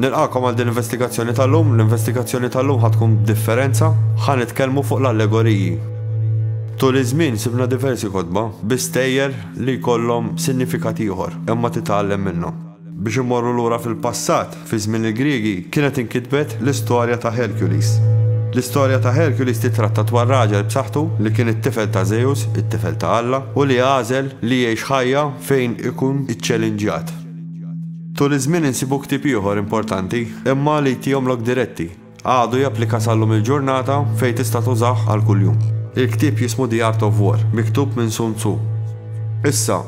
Nilqakom għal din l-investigazzjoni tal-lum, l-investigazzjoni tal-lum ħatkun differenza, ħan nitkellmu fuq l-allegoriji. Tul iż-żmien sibna diversi kotba bi stejjer li jkollhom sinifikat ieħor, imma titgħallem minnhom. Biex immorru lura fil-passat, fi żmien il-Griegi kienet inkitbet l-istorja ta' Hercules. L-istorja ta' Hercules tittratta dwar raġel b'saħħtu li kien it-tifel ta' Zeus, it-tifel ta' Alla, u li għażel li jgħix ħajja fejn ikun iċċelinġjat. Tul iż-żmien insibu ktieb ieħor importanti, imma li jtihom lok diretti. Għadu japplika sal-lum il-ġurnata fejn tista' tużah għal kuljum. Il-ktieb jismu The Art of War, miktub minn Sun Tzu. Issa,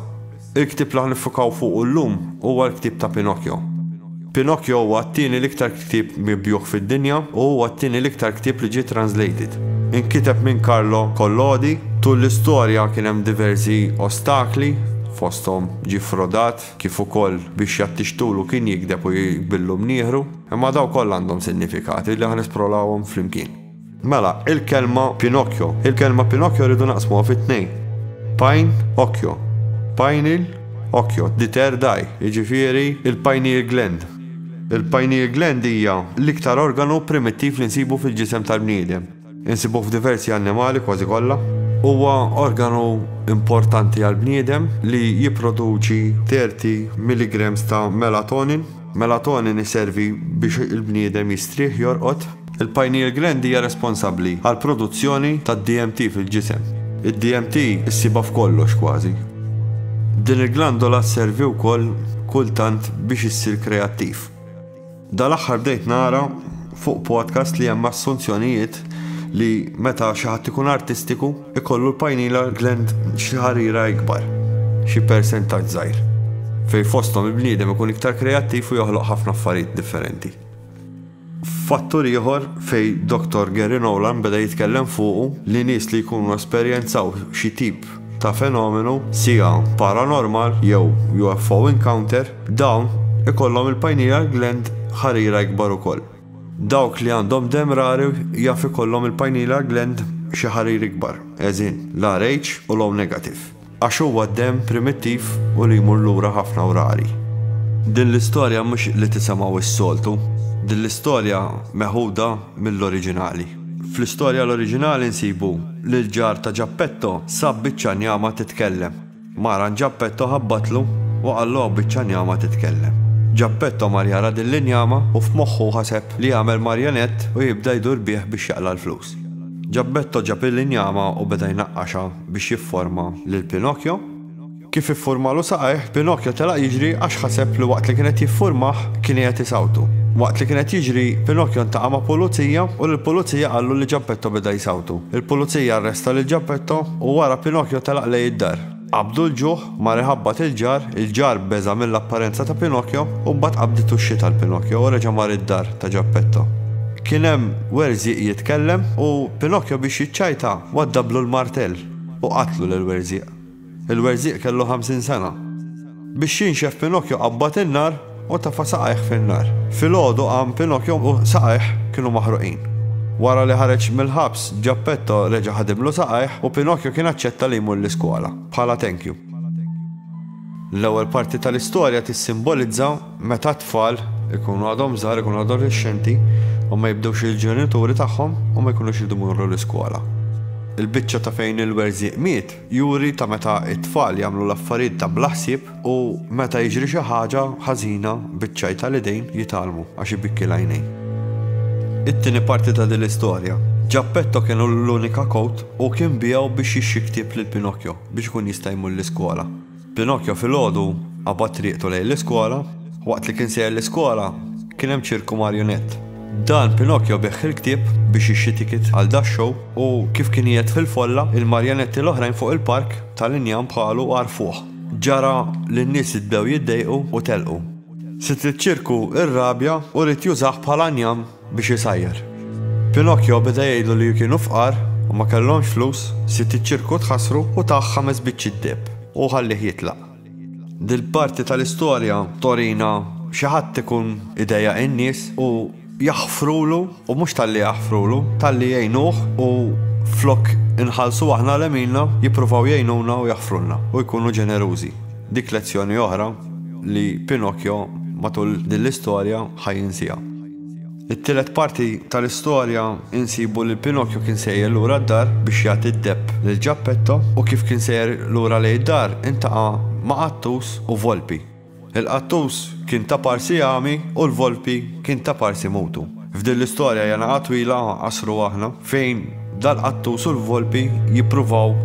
il-ktieb li ħa niffukaw fuqu llum huwa l-ktieb ta' Pinocchio. Pinocchio huwa t-tieni l-iktar ktieb mibjugħ fid-dinja u huwa t-tieni l-iktar ktieb li ġie translated. Inkiteb minn Carlo Collodi, tul l-istorja kien hemm diversi ostakli, fosthom ġie ffrodat, kif ukoll biex jattixtulu kien jigdeb u jqbillu mnieħru, imma dawn kollha għandhom sinnifikati li ħa nesprolawhom flimkien. Mela, il-kelma Pinocchio. Il-kelma Pinocchio rridu naqsmuha fi tnejn. Pajn, okkjo. Pineal, okkjo. The third eye, jiġifieri il-pineal gland. Il-pineal gland hija l-iktar organu primittiv li nsibu fil-ġisem tal-bniedem. Insibuh f'diversi annimali, kważi kollha. Huwa organu importanti għall-bniedem li jipproduċi 30 milligrams ta' melatonin. Melatonin iservi biex il-bniedem jistrieħ, jorqod. Il-pineal gland hija responsabbli għall-produzzjoni tad-DMT fil-ġisem. Id-DMT issibha f'kollox, kważi. Din il-glandola sservi wkoll kultant biex issir kreattiv. Dal-aħħar bdejt nara fuq podcast li hemm assunzjonijiet li meta xi ħadd ikun artistiku ikollu l-pineal gland xi ħarira ikbar, xi persentaġġ żgħir, fejn fosthom il-bniedem ikun iktar kreattiv u joħloq ħafna affarijiet differenti. Fattur ieħor fejn Dottor Gary Nolan beda jitkellem fuqu li nies li jkunu esperjenzaw xi tip ta' fenomenu, siegħa, paranormal jew UFO encounter, dawn ikollhom il-pineal gland ħarira ikbar ukoll. Dawk li għandhom demm rari jaf ikollhom il-pineal gland xi ħarir ikbar, as in, l-Rh u l-O negative, għax huwa demm primittiv u li jmur lura ħafna u rari. Din l-istorja mhux li tisemgħu s-soltu. Din l-istorja meħuda mill-oriġinali. Fl-istorja l-oriġinali nsibu li l-ġar ta' Ġappetto sab biċċa njama titkellem. Maran Ġappetto ħabbatlu u qallu hawn biċċa njama titkellem. Ġappetto mar jara din l-injama u f'moħħu ħaseb li jagħmel marjonett u jibda jdur bih biex jaqla' l-flus. Ġappetto ġab il-injama u beda jnaqqaxha biex jifforma lil Pinocchio. Kif iffurmalu saqajh, Pinokjo telaq jiġri għax ħaseb li waqt li kien qed jiffurmah, kien qiegħed isawtu. Waqt li kien qed jiġri, Pinokjo ntaqa' ma' pulizija u lill-pulizija qallu li Ġappetto beda jsawtu. Il-pulizija arresta lil Ġappetto u wara Pinokjo telaq lejn id-dar. Qabdu l-ġuħ, mar iħabbat il-ġar, il-ġar beża' mill-apparenza ta' Pinokjo u mbagħad qabditu x-xita l-Pinokjo u reġa' mar id-dar ta' Ġappetto. Kien hemm Werżieq jitkellem u Pinokjo biex jiċċajta waddablu l-martell u qatlu lil Werżieq. Il-werżieq kellu ħamsin sena. Biex jinxef Pinokju qabbad in-nar u tefa' saqajh fin-nar. Filgħodu qam Pinokju u saqajh kienu maħruqin. Wara li ħareġ mill-ħabs, Ġappetto reġa' ħadimlu saqajh u Pinokju kien aċċetta li jmur l-iskola, bħala thank you. L-ewwel parti tal-istorja tissimbolizza meta t-tfal ikunu għadhom żgħar, ikunu adolexxenti u ma jibdewx il-ġenituri tagħhom u ma jkunux iridu jmorru l-iskola. Il-biċċa ta' fejn il-werżieq miet Juri ta' meta t-tfal jagħmlu l-affarijiet ta' bla ħsieb u meta jiġri xi ħaġa ħażina biċ-ċajt tal-idejn jitgħallmu għax ibikki l-għajnejn. It-tieni parti ta' din l-istorja. Ġappetto kien hu l-unika kowt u kien biegħu biex jixxi ktieb lil Pinocchio biex ikun jista' jmur l-iskola. Pinocchio filgħodu qabad triqtu lejn l-iskola. Waqt li kien sejjer l-iskola, kien hemm ċirku marionett. Dan Pinocchio biegħ il-ktieb biex jixtri ticket għal dax-show u kif kien qiegħed fil-folla, il-marjonetti l-oħrajn fuq il-park tal-injam bħalu għarfuh. Ġara li n-nies idbew jiddejqu u telqu. Sid iċ-ċirku irrabja u ried jużah bħala njam. biex isajjar. Pinocchio beda jgħidlu li kienu fqar u ma kellhomx flus, sid iċ-ċirku tħassru u tah ħames biċċiet deheb u ħallih jitlaq. Dil-parti tal-istorja torina xi ħadd ikun idejjaq in-nies u jaħfrulu u mhux talli jaħfrulu, talli jgħinuh u flok inħallsu aħna l-għemilna jippruvaw jgħinuna u jaħfrulna u jkunu ġenerużi. Dik lezzjoni oħra li Pinocchio matul din l-istorja ħa jinsiha. It-tielet parti tal-istorja insibu li Pinokju kien sejjer lura d-dar biex jagħti d-debb lil Ġappetto u kif kien sejjer lura lejn id-dar intaqa' ma' qattus u volpi. Il-qattus kien ta' parsi għami u l-volpi kien ta' parsi mutu. F'din l-istorja janaqa' twila qasru aħna fejn dal-qattus u l-volpi jippruvaw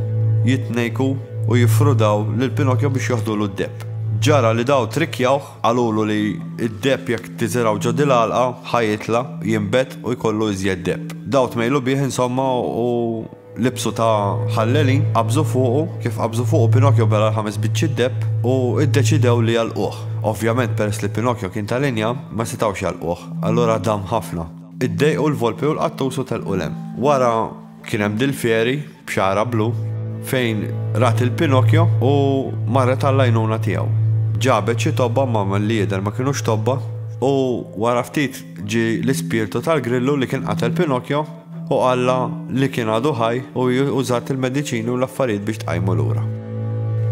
jitnejku u jiffrudaw lil Pinokjo biex joħdulu d-debb. Ġara li dawn trikkjawh Qalulu li d-deheb jekk tiżirgħu ġo dil-għalqa ħa jitla', jinbet u jkollu iżjed deheb. Daw tmejlu bih insomma u libsu ta' ħallelin, qabżu fuqu, kif qabżu fuqu Pinokjo bela' l-ħames biċċiet deheb u ddeċidew li jagħlquh. Ovvjament peress li Pinokjo kien ta' linja, ma setgħux jagħlquh, allura dam ħafna. Iddejqu l-Volpi u l-Qattus u telqu 'l hemm. Wara Kien hemm Dil Fieri, b'xagħarha blu, fejn rat lil Pinocchio u marret għall-għajnuna tiegħu. Ġabet xi tobba ma milli jidher ma kinux tobba u wara ftit ġie l-ispirtu tal-Grillu li kien qatel Pinocchio u qallha li kien għadu ħaj u hi użat il-mediċini u l-affarijiet biex tqajmu lura.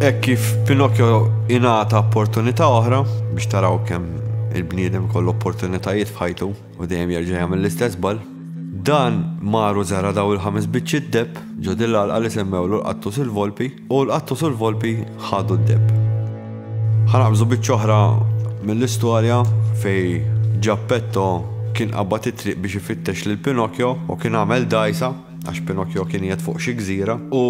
Hekk kif Pinocchio ingħata opportunità oħra, biex taraw kemm il-bniedem ikollu opportunitajiet f'ħajtu. U dejjem jerġa' jagħmel l-istess żball. Dan mar u żara' dawn il-ħames biċċiet debb ġo din l-għalqa li semmewlu l-qattus u l-volpi, u l-qattus u l-volpi ħadu d-debb. Ħa naqbżu biċċa oħra mill-istorja fejn Ġappetto kien qabad it-triq biex ifittex lil Pinokjo u kien għamel dgħajsa għax Pinokjo kien qiegħed fuq xi gżira u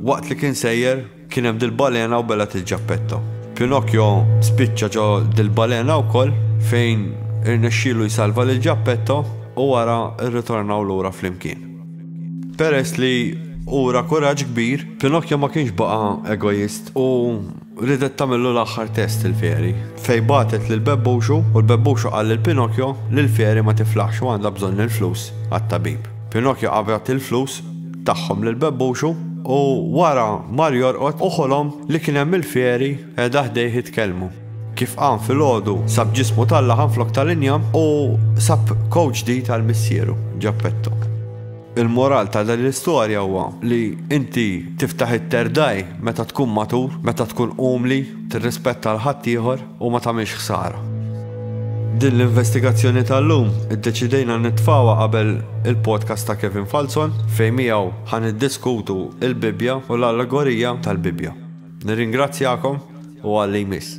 waqt li kien sejjer, Kien hemm dil-balena u belgħet lil Ġappetto. Pinocchio spiċċa ġo dil-balena wkoll fejn irnexxielu jsalva lil Ġappetto u wara rritornaw lura flimkien. Peress li ura kuraġġ kbir, Pinocchio ma kienx baqa' egoist u riedet tagħmillu l-aħħar test il-fairy, fejn bagħtet lil Bebbuxu u l-Bebbuxu qal lil Pinocchio li l-fairy ma tiflaħx u għandha bżonn il-flus għat-tabib. Pinocchio qabad il-flus tagħhom lil Bebbuxu u wara mar jorqod u ħolom li kien hemm il-fieri qiegħda ħdejh jitkellmu. Kif qam filgħodu sab ġismu tal-laħam flok tal-injam u sab coat ġdid għal missieru, Geppetto. Il-moral ta' din l-istorja huwa li inti tiftaħ it-terdaj meta tkun matur, meta tkun umli, tirrispetta l-ħaddieħor. u ma tagħmilx ħsara. Din l-investigazzjoni tal-lum iddeċidejna nitfgħuha qabel il-podcast ta' Kevin Falzon fejn miegħu ħa niddiskutu l-Bibbja u l-allegorija tal-Bibbja. Nirringrazzjakom u għal li jmiss.